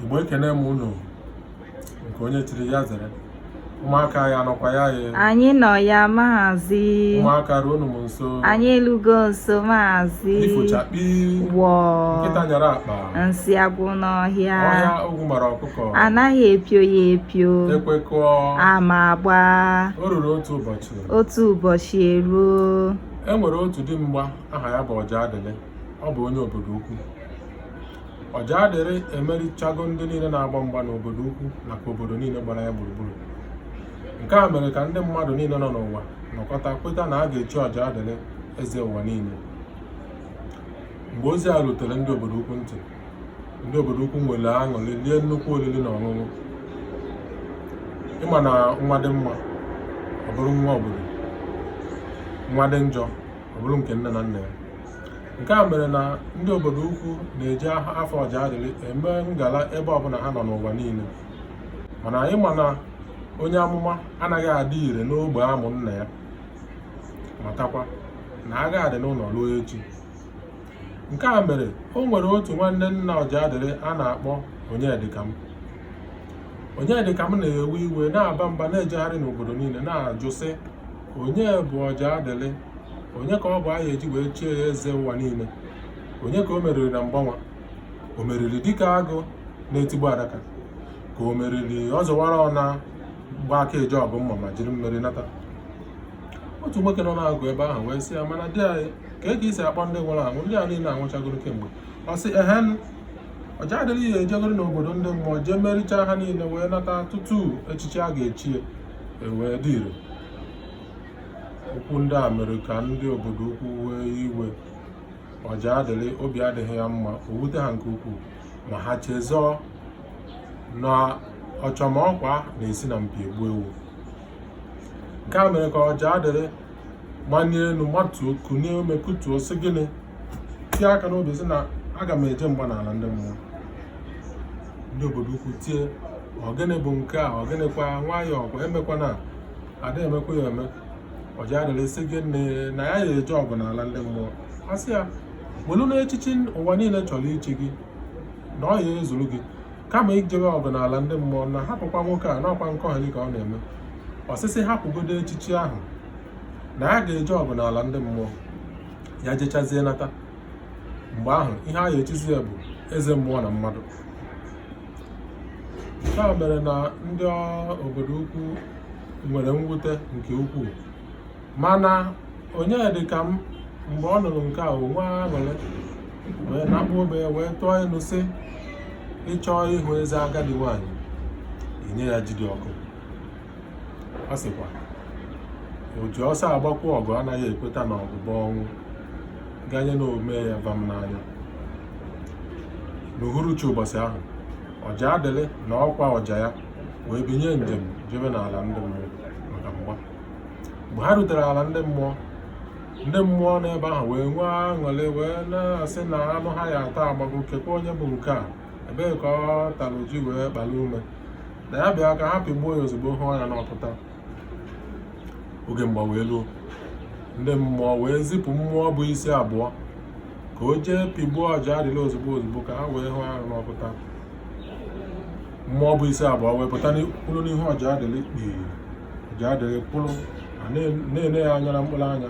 igbo ekene m unu nke onye chiri ya zere ụmụaka ya nọkwa ya ya anyị nọ ya maazị ụmụaka ruonụ m nso anyị elugo nso maazị ifo chakpii wọọ nkịta nyara akpa nsị agwụ n'ọhịa ọhịa ogwu mara ọkụkọ anaghị epio ya epio ekwekọọ ama agba o ruru otu ụbọchị otu ụbọchị eruo e nwere otu dimgba aha ya bụ ọjadịlị ọ bụ onye obodo ukwu ọjadịlị emerichago ndị niile na-agba mgba n'obodo ukwu nakwa obodo niile gbara ya gburugburu nke a mere ka ndị mmadụ niile nọ n'ụwa nọkọta kweta na a ga-echi ọjadịlị eze ụwa niile mgbe ozi a rutere ndị obodo ukwu ntị ndị obodo ukwu nwere aṅụrị lie nnukwu oriri na ọṅụṅụ ị ma na nwa dị mma ọ bụrụ nwa obodo nwa dị njọ ọ bụrụ nke nne na nna ya nke a mere na ndị obodo ukwu na-eji afa ọjadịlị eme ngala ebe ọbụla ha nọ n'ụwa niile mana anyị ma na onye amụma anaghị adị ire n'ogbe a mụ nna ya matakwa na agha adị n'ụlọ ruo echi nke a mere o nwere otu nwanne nna ọjadịlị a na-akpọ onyedịkam onyedịkam na-ewe iwe na-aba mba na-ejegharị n'obodo niile na-ajụ sị onye bụ ọjadịlị onye ka ọ bụ a ya eji wee chie ya eze ụwa niile onye ka o meriri na mgba nwa o meriri dịka agụ na-etigbu adaka ka o meriri ọ zọwara ọ na-agba aka eje ọgụ mma ma jiri mmeri nata otu nwoke nọ n'akụkụ ebe ahụ wee sị ya mana di anyị kee ka i si akpọ ndị nwụrụ anwụ ndị a niile anwụchagoro kemgbe ọ sị ehen ọjadịlị ya ejegoro n'obodo ndị mmụọ jee merichaa ha niile wee nata tutu echichi a ga-echi ya ewee dị ire Okwu ndị a mere ka ndị obodo ukwu wee iwe ọjadịlị obi adịghị ya mma o wute ha nke ukwuu ma ha chezọọ na ọchọmọkwa na-esi na mpi egbu ewu nke a mere ka ọjadịlị manie elu matuo kunie ume kutuo sị gịnị tie aka n'obi sị na aga m eje mgba n'ala ndị mmụọ ndị obodo ukwu tie ọ gịnị bụ nke a ọ gịnịkwa nwayọọ kwa emekwana a da emekwa ya eme ọjadịlị sị gịnị na ya ya eje ọgụ n'ala ndị mmụọ a sị ya welu na echichi ụwa niile chọrọ ichi gị na ọ ya ezuru gị kama ijebe ọgụ n'ala ndị mmụọ na hapụkwa nwoke a na ọ kwa nkọgheli ka ọ na-eme ọ sị sị hapụgodo echichi ahụ na ya ga-eje ọgụ n'ala ndị mmụọ ya jechazie nata mgbe ahụ ihe a ya echizi ya bụ eze mmụọ na mmadụ nke a mere na ndị obodo ukwu nwere mwute nke ukwuu mana Onyedịka m mgbe ọ nụrụ nke a o nwee aṅụrị wee nakpụ obe ya wee tụọ inu sị ị chọọ ịhụ eze agadi nwaanyị i nye ya ji dị ọkụ ọ sịkwa o ji ọsọ agbakwu ọgụ anaghị ekweta na ọgụ bụ ọnwụ ganye na o mee ya vam n'anya n'uhuruchi ụbọchị ahụ Ọjadịlị na ọkwa ọja ya wee binye njem jebe n'ala ndị mmụọ maka mgba mgbe ha rutere ala ndị mmụọ ndị mmụọ n'ebe ahụ wee nwee aṅụrị wee na-asị na anụ ha ya-ata agbago kekwa onye bụ nke a ebee ka ọ tara ji wee kpara ume na ya bịa ka ha pịgbuo ya ozugbo hụọ ya n'ọkụ taa oge mgba wee luo ndị mmụọ wee zipụ mmụọ bu isi abụọ ka o jee pịgbuo Ọjadịlị ozugbo ozugbo ka ha wee hụọ ya n'ọkụ taa mmụọ bu isi abụọ wee pụta kwụrụ n'ihu Ọjadịlị kpii Ọjadịlị kwụrụ na-ele ya anya na mkpụrụ anya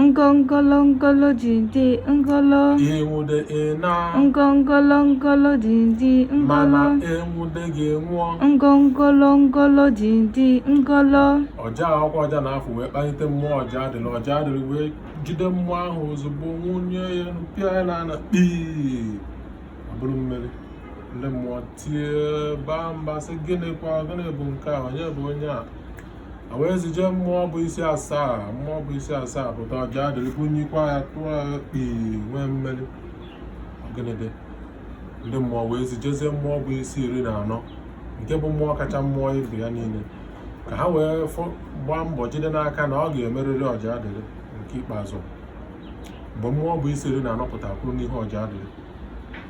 ngongolongolo dindi ngolo i nwude ị naa ngongolongolo dindi mana ngolo e nwude gị nwụọ ngongolongolo dindi ngolo ọja ọkwa ọja na-afụ wee kpalite mmụọ Ọjadịlị Ọjadịlị wee jide mmụọ ahụ ozugbo bunye ya elu, pịa ya n'ala kpii ọ bụrụ mmeri ndị mmụọ tie baa mba sị gịnịkwa gịnị bụ nke a onye bụ onye a e wee zije mmụọ bu isi asaa mmụọ bu isi asaa pụta Ọjadịlị bunyikwa ya tụọ ya kpii nwee mmeri ọ gịnị dị ndị mmụọ wee zijezie mmụọ bu isi iri na anọ nke bụ mmụọ kacha mmụọ ibe ya niile ka ha wee gbaa mbọ jide n'aka na ọ ga-emeriri Ọjadịlị nke ikpeazụ mgbe mmụọ bu isi iri na anọ pụtara kwụrụ n'ihu Ọjadịlị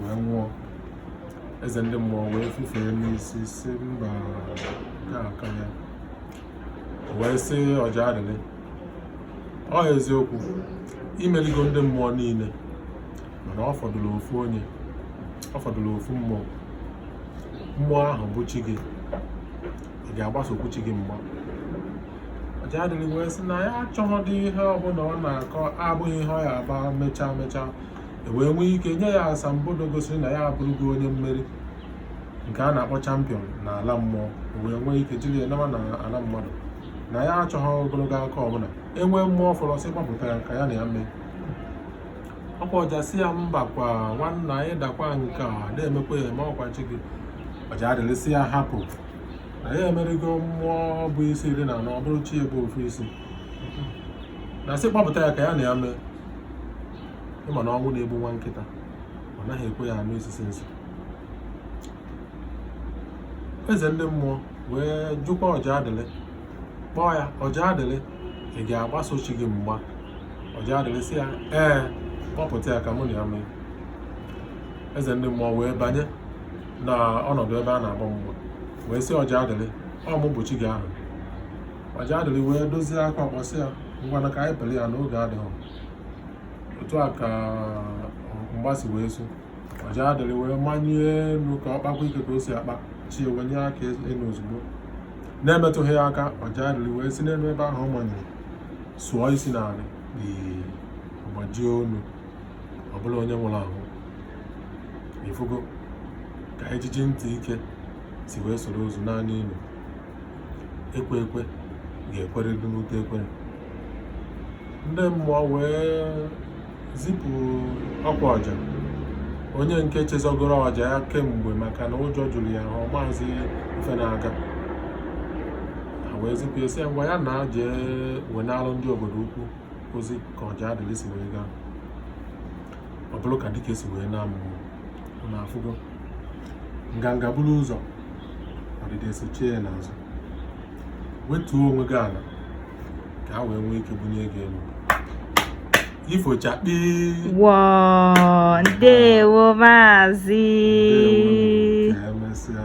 wee nwụọ eze ndị mmụọ wee fufee n'isi sị mba aka ya wee sị Ọjadịlị ọ eziokwu i meligo ndị mmụọ niile mana ọ fọdụrụ ofu onye ọ fọdụrụ ofu mmụọ mmụọ ahụ bụ chi gị ị ga-agbasokwu chi gị mgba Ọjadịlị wee sị na ya achọghọdị ihe ọbụla ọ na-akọ abụghị ihe ọ ya aba mechaa mechaa e wee nwee ike nye ya asambodo gosiri na ya abụrụgo onye mmeri nke a na-akpọ champion na ala mmụọ e wee nwee ike jiri ya nawa na ala mmadụ na ya achọghị ogologo ụka ọbụla e nwee mmụọ fọrọ sị kpọpụta ya ka ya na ya mee ọkwa ọja sị ya mbakwa nwanna anyị dakwa nke a na-emekwa ya eme ọ kwa chi gị Ọjadịlị sị ya hapụ na ya emerigo mmụọ bu isi iri na anọ ọ bụrụ chi ya bu ofu isi na sị kpọpụta ya ka ya na ya mee ịma na ọnwụ na-egbu nwa nkịta ọ naghị ekwe ya anụ isisi nsị eze ndị mmụọ wee jụkwa ọjadịlị kpọọ ya ọjadịlị ị ga-agbaso chi gị mgba ọjadịlị sị ya ee kpọpụta ya ka mụ na ya mee eze ndị mmụọ wee banye na ọnọdụ ebe a na-agba mgba wee sị ọjadịlị ọ mụ bụ chi gị ahụ ọjadịlị wee dozie aka ọkpọ sị ya ngwanụ ka anyị pere ya n'oge adịghị otu a ka mgba si wee su ọjadịlị wee manye enu ka ọ kpakwa ike ka o si akpa chi ya wenye aka enu ozugbo na-emetụghị ya aka ọjadịlị wee si n'enu ebe ahụ ọ manyere sụọ isi n'ala gbajie onu ọ bụrụ onye nwụrụ anwụ ị fụgo ka ijiji ntị ike si wee soro ozu naa n'ini ekwe ekwe ga-ekwerịrị n'ute ekwere ndị mmụọ wee zipụ ọkwa ọja onye nke chezọgoro ọja ya kemgbe maka na ụjọ jụrụ ya ọ mazị ife na-aga ha wee zipụ ya sị ngwa ya naa jee wenalụ ndị obodo ukwu ozi ka ọjadịlị si wee gaa ọ bụrụ ka dike si wee naa mmụọ unu afụgo nganga buru ụzọ ọdịda esochie ya n'azụ wetuo onwe gị ana ka a wee nwee ike bunye gị enu ifo chakpii wọọ ndewo maazị ka emesịa